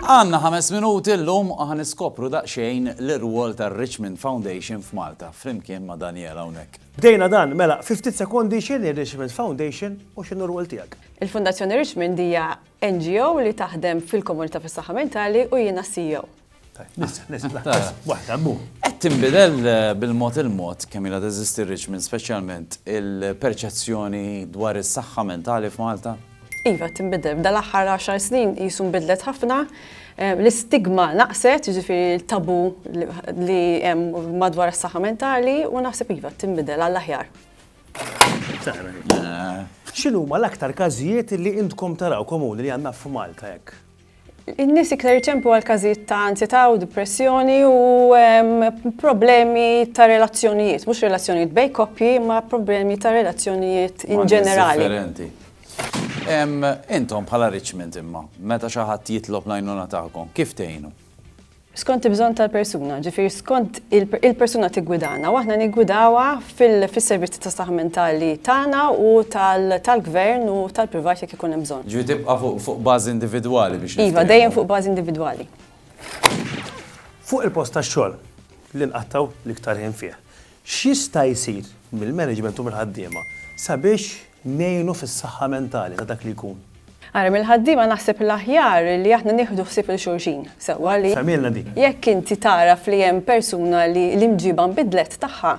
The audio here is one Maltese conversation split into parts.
Għanna ħames minuti l-lum għan iskopru daqxejn l-irwol ta' Richmond Foundation f'Malta, flimkien ma' Daniela Unek. Bdejna dan, mela, 50 sekondi xini Richmond Foundation u xinu rwol tijak? Il-Fundazzjoni Richmond hija NGO li taħdem fil-komunità fis-saħħa mentali u jiena CEO. Qed tinbidel bil-mod il-mod kemm ilha teżisti r-Richmond speċjalment il-perċezzjoni dwar is-saħħa mentali f'Malta? Iva qed tinbidel. F'dan l-aħħar għaxar snin qisu nbidlet ħafna. L-istigma naqset, jiġifieri t-tabu li hemm madwar is-saħħa mentali u naħseb iva qed tinbidel għall-aħjar. X'inhuma l-aktar każijiet li intkom taraw komuni li għandna f'Malta hekk? In-nies iktar iċemplu għal każijiet ta' anzjetà u depressjoni u problemi ta' relazzjonijiet, mhux relazzjonijiet bejn koppji, ma' problemi ta' relazzjonijiet in ġenerali. Intom bħala Richmond imma, meta xi ħadd jitlob l-għajnuna tagħkom, kif tgħinu? Skont il-bżonn tal-persuna, ġifieri skont il-persuna tiggwidana u aħna niggwidawha fis-servizzi ta' saħħa mentali tagħna u tal-gvern u tal-privat jekk ikun hemm bżonn. Ġifieri tibqa' fuq bażi individwali biex niftehmu. Iva, dejjem fuq bażi individwali. Fuq il-post tax-xogħol, li nqattgħu l-iktar ħin fih, X'jista' jsir mill-management u mill-ħaddiema sabiex ngħinu fis-saħħa mentali ta' dak li jkun? Ara, mill-ħaddiema naħseb l-aħjar li aħna nieħdu ħsieb lil xulxin sewwa li. Fehmilna din. Jekk inti tagħraf li hemm persuna li l-imġiba nbidlet tagħha,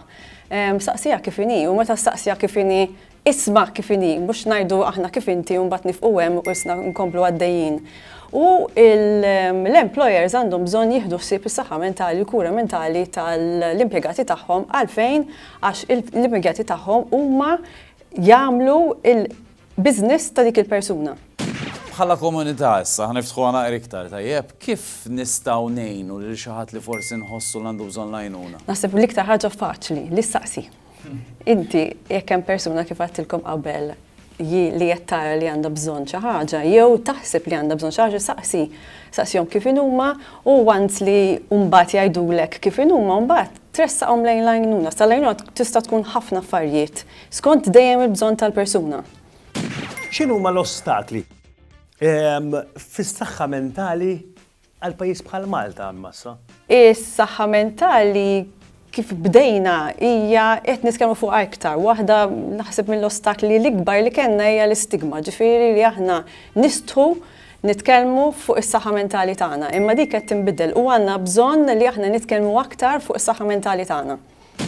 staqsiha kif inhi u meta staqsiha kif inhi Isma' kif inhi, mhux ngħidu aħna kif inti u mbagħad nifqu hemm u issa nkomplu għaddejjin. U l-employers għandhom bżonn jieħdu ħsieb is-saħħa mentali, il-kura mentali tal-impjegati tagħhom għalfejn għax l-impjegati tagħhom huma jagħmlu l-business ta' dik il-persuna. Bħala komunità issa, ħaniftħuha naqra iktar, tajjeb, kif nistgħu ngħinu lil xi ħadd li forsi nħossu li għandu bżonn l-għajnuna? Naħseb l-iktar ħaġa faċli, li ssaqsi. Inti, jekk hemm persuna kif għattilkom qabel li qed tara li għandha bżonn xi ħaġa, jew taħseb li għandha bżonn xi ħaġa, saqsi, saqsihom kif inhuma u għand li mbagħad jgħidulek kif inhuma mbagħad tressaqhom lejn l-għajnuna. Sa l-għajnuna tista' tkun ħafna affarijiet skont dejjem il-bżonn tal-persuna. X'inhuma l-ostakli fis-saħħa mentali Għal pajjiż bħal Malta, ammassa. Is-saħħa mentali kif bdejna hija qed nitkellmu fuqha iktar. Waħda naħseb mill-ostakli l-ikbar li kellna hija l-istigma, ġifieri li aħna nistħu nitkellmu fuq is-saħħa mentali tagħna. Imma dik qed tinbidel u għandna bżonn li aħna nitkellmu aktar fuq is-saħħa mentali tagħna.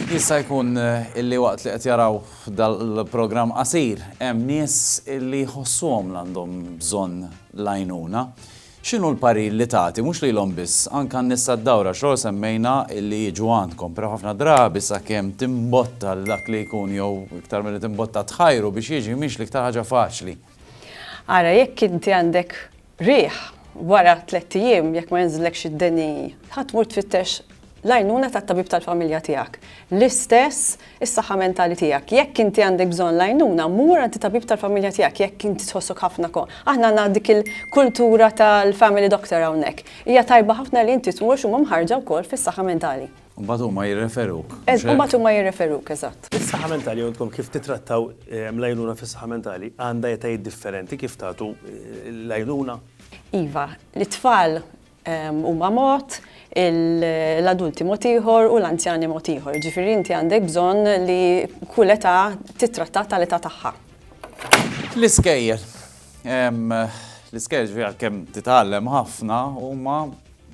Jista' jkun illi waqt li qed jaraw dal-programm qasir hemm nies illi jħossuhom l-għandhom bżonn l-għajnuna. X'inhu l-parir li tagħti, mhux lilhom biss, anke għan-nisa d-dawra, għax lkoll semmejna li jiġu għandkom, però ħafna drabi sakemm timbotta lil dak li jkun jew iktar milli timbotta tħajru biex jiġi mhix l-iktar ħaġa faċli. Ara jekk inti għandek riħ, wara tlett ijiem jekk ma jinżillekx id-deni, ħa tmur tfittex l-għajnuna tat-tabib tal-familja tiegħek, l-istess is-saħħa mentali tiegħek. Jekk inti għandek bżonn l-għajnuna, mur għand it-tabib tal-familja tiegħek jekk inti tħossok ħafna ko. Aħna għandna dik il-kultura tal-family doctor hawnhekk. Hija tajba ħafna li inti tmur għax huma mħarrġa wkoll fis-saħħa mentali. U mbagħad huma jirreferuk. Eż, u mbagħad huma jirreferuk, eżatt. Is-saħħa mentali għandkom kif tittrattaw l-għajnuna fis-saħħa mentali għandha etajiet differenti kif tagħtu l-għajnuna? Iva, lit-tfal huma mod, l-adulti mod ieħor u l-anzjani mod ieħor. Jiġifieri inti għandek bżonn li kull età tittrattata tal-età tagħha. L-iskejjel. L-iskejjel ġifieri għalkemm titgħallem ħafna huma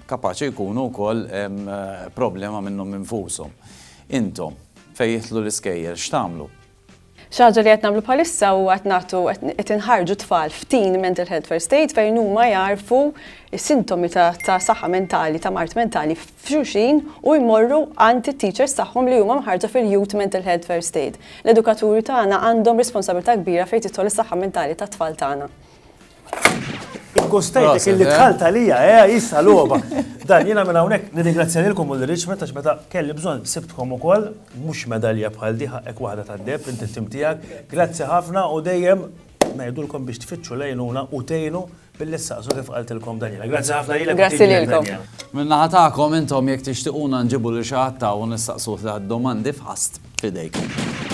kapaċi jkunu wkoll problema minnhom infushom. Intom fejn jidħlu l-iskejjel x'tagħmlu? Xi ħaġa li qed nagħmlu bħalissa huwa qed nagħtu qed inħarġu tfal f'teen mental health first aid fejn huma jagħrfu sintomi ta' saħħa mentali ta' mard mentali f'xulxin u jmorru għand it-teachers tagħhom li huma mħarġa fil-youth mental health first aid. L-edukaturi tagħna għandhom responsabilità kbira fejn tidħol is-saħħa mentali tat-tfal tagħna. Gustajtek illi tħalt eh? għalija, eh, jissa l-oba. Dan jina minn hawnhekk nirringrazzjalilkom u l-Richmond għax meta kelli bżonn sibtkom ukoll mhux medalja bħal diħa hekk waħda tad-deb inti tim tiegħek. Grazzi ħafna u dejjem ngħidulkom biex tfittxu lejnuna u tgħinu billi saqsu kif qaltilkom Daniela. Grazzi ħafna lilek. Grazzi lilkom. Minna ħatakom intom jekk tixtiquna nġibu li xi ħadd u nistaqsu domandi f'ħast fidejkom.